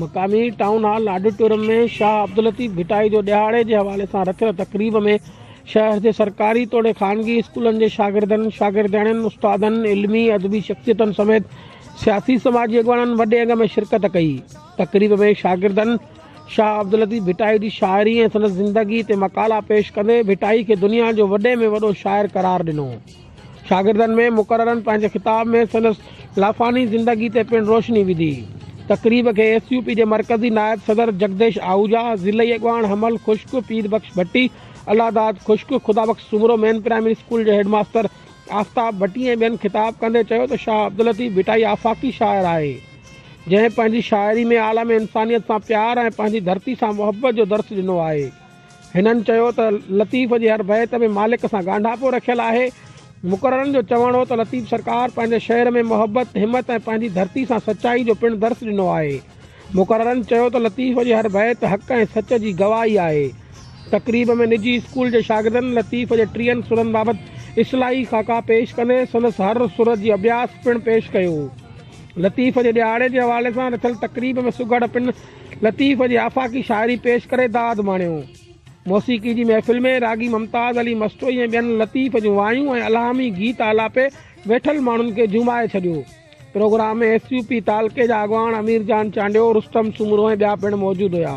مقامي town hall auditorium ۾ Shah Abdul Latif Bhittai جو ڏهاڙي جي حوالي سان رٿيل تقريب ۾ شهر جي سرڪاري توڙي خانگي اسڪولن جي شاگردن، شاگردياڻين، استادن، علمي، ادبي شخصيتن سميت سياسي سماجي اڳواڻن وڏي انگ ۾ شرڪت ڪئي. تقريب ۾ شاگردن شاهه عبداللطيف ڀٽائي جي شاعري ۽ سندس زندگي تي مقالا پيش ڪندي ڀٽائي کي دنيا جو وڏي ۾ وڏو شاعر قرار ڏنو. شاگردن ۾ مقررن پنهنجي خطاب ۾ سندس لافاني زندگي تي پڻ روشني وڌي. تقريب کي ايس يو پي جي مرڪزي نائب صدر جڳديش آهوجا، ضلعي اڳواڻ حمل خشڪ، پير بخش ڀٽي، الله داد خشڪ، Khuda Bakhsh Soomro, main primary school جي هيڊ ماستر آفتاب ڀٽي ۽ ٻين خطاب ڪندي چيو ته شاهه عبداللطيف ڀٽائي آفاقي شاعر آهي جنهن پنهنجي شاعري ۾ عالم انسانيت سان پيار ۽ پنهنجي ڌرتي سان محبت جو درس ڏنو آهي. هنن چيو ته لطيف جي هر بيت ۾ مالڪ سان ڳانڍاپو رکيل آهي، مقررن جو چوڻ هو ته لطيف سرڪار پنهنجي شعر ۾ محبت، همت ۽ پنهنجي ڌرتي سان سچائي جو پڻ درس ڏنو آهي. مقررن چيو ته لطيف جي هر بيت حق ۽ سچ جي گواهي آهي. تقريب ۾ نجي اسڪول جي شاگردن لطيف جي ٽيهن سرن بابت اصلاحي خاڪا پيش ڪندي سندس هر سر جي اڀياس پڻ پيش ڪيو. لطيف جي ڏهاڙي جي حوالي سان رٿيل تقريب ۾ سگهڙ پڻ لطيف جي آفاقي شاعري پيش ڪري داد ماڻيو. موسيقي جي محفل ۾ راڳي ممتاز علي مستوئي ۽ ٻين لطيف جون وايون ۽ الهامي گيت آلاپي ويٺل ماڻهن کي جهومائي ڇڏيو. پروگرام ۾ ايس يو پي تعلقي جا اڳواڻ امير جان چانڊيو، رستم سومرو ۽ ٻيا پڻ موجود هيا.